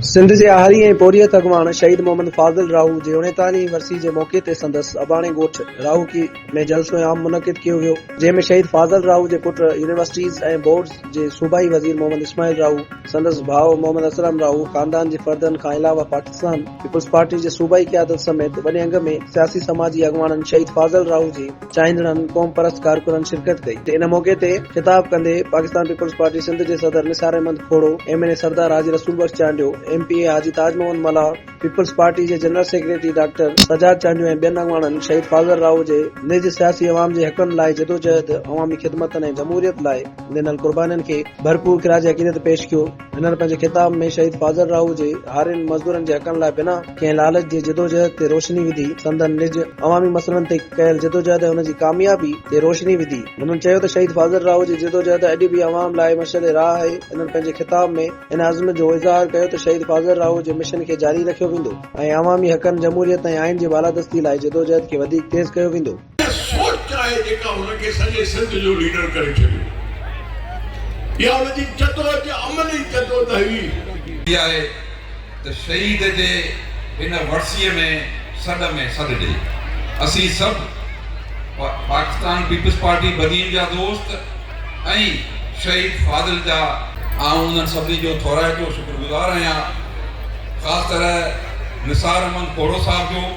سنڌ جي آهري ۽ پورهيت اڳواڻ شهيد محمد فاضل راهو جي اڻيتاليهين ورسيء جي موقعي تي سندس اباڻي ڳوٺ راهوڪي ۾ جلسو عام منعقد ڪيو ويو، جنهن ۾ شهيد فاضل راهو جي پٽ، يونيورسٽيز ۽ بورڊز جي صوبائي وزير محمد اسماعيل راهو، سندس ڀاء محمد اسلم راهو، خاندان جي فردن کان علاوه پاڪستان پيپلز پارٽي جي صوبائي قيادت سميت وڏي انگ ۾ سياسي سماجي اڳواڻن شهيد فاضل راهو جي چاهيندڙن قومپرست ڪارڪنن شرڪت ڪئي تي ان موقعي تي خطاب ڪندي پاڪستان پيپلز پارٽي سنڌ جي صدر Nisar Ahmed Khuhro, M N A Sardar Haji Rasool Bakhsh Chandio, M P A Haji Taj Muhammad Mallah, peoples party جي general secretary doctor Sajjad Chandio ۽ ٻين اڳواڻن شهيد فاضل راهو جي نج سياسي عوام جي حقن لاء جدوجهد، عوامي خدمتن ۽ جمهوريت لاء ڏنل قربانين کي ڀرپور خراج عقيدت پيش ڪيو. هنن پنهنجي خطاب ۾ شهيد فاضل راهو جي هارين مزدورن جي حقن لاء بنا ڪنهن لالچ جي جدوجهد تي روشني وڌي، سندن نج عوامي مسئلن تي ڪيل جدوجهد ۽ ان جي ڪاميابي تي روشني وڌي. هنن چيو ته شهيد فاضل راهو جي جدوجهد اڄ به عوام لاء مشعل راهه آهي، هنن پنهنجي خطاب ۾ ان عزم جو اظهار ڪيو ته شهيد فاضل راهو جي مشن کي جاري رکيو ويندو ۽ عوامي حقن، جمهوريت ۽ آئين جي بالادستي لاء جدوجهد کي وڌيڪ تيز ڪيو ويندو. اها سوچ آهي جيڪا هن کي سڄي سنڌ جو ليڊر ڪري ڇڏيو. اها هن جي جدوجهد عملي جدوجهد هئي. ٿي آهي ته شهيد جي هن ورسيء ۾ سڏ ۾ سڏ ڏئي اسين سڀ پاڪستان پيپلز پارٽي بدين جا دوست ۽ شهيد فاضل جا آئون انهن سڀني جو ٿورائتو شڪرگذار آهيان خاص طرح نثار احمد کوڙو صاحب جو.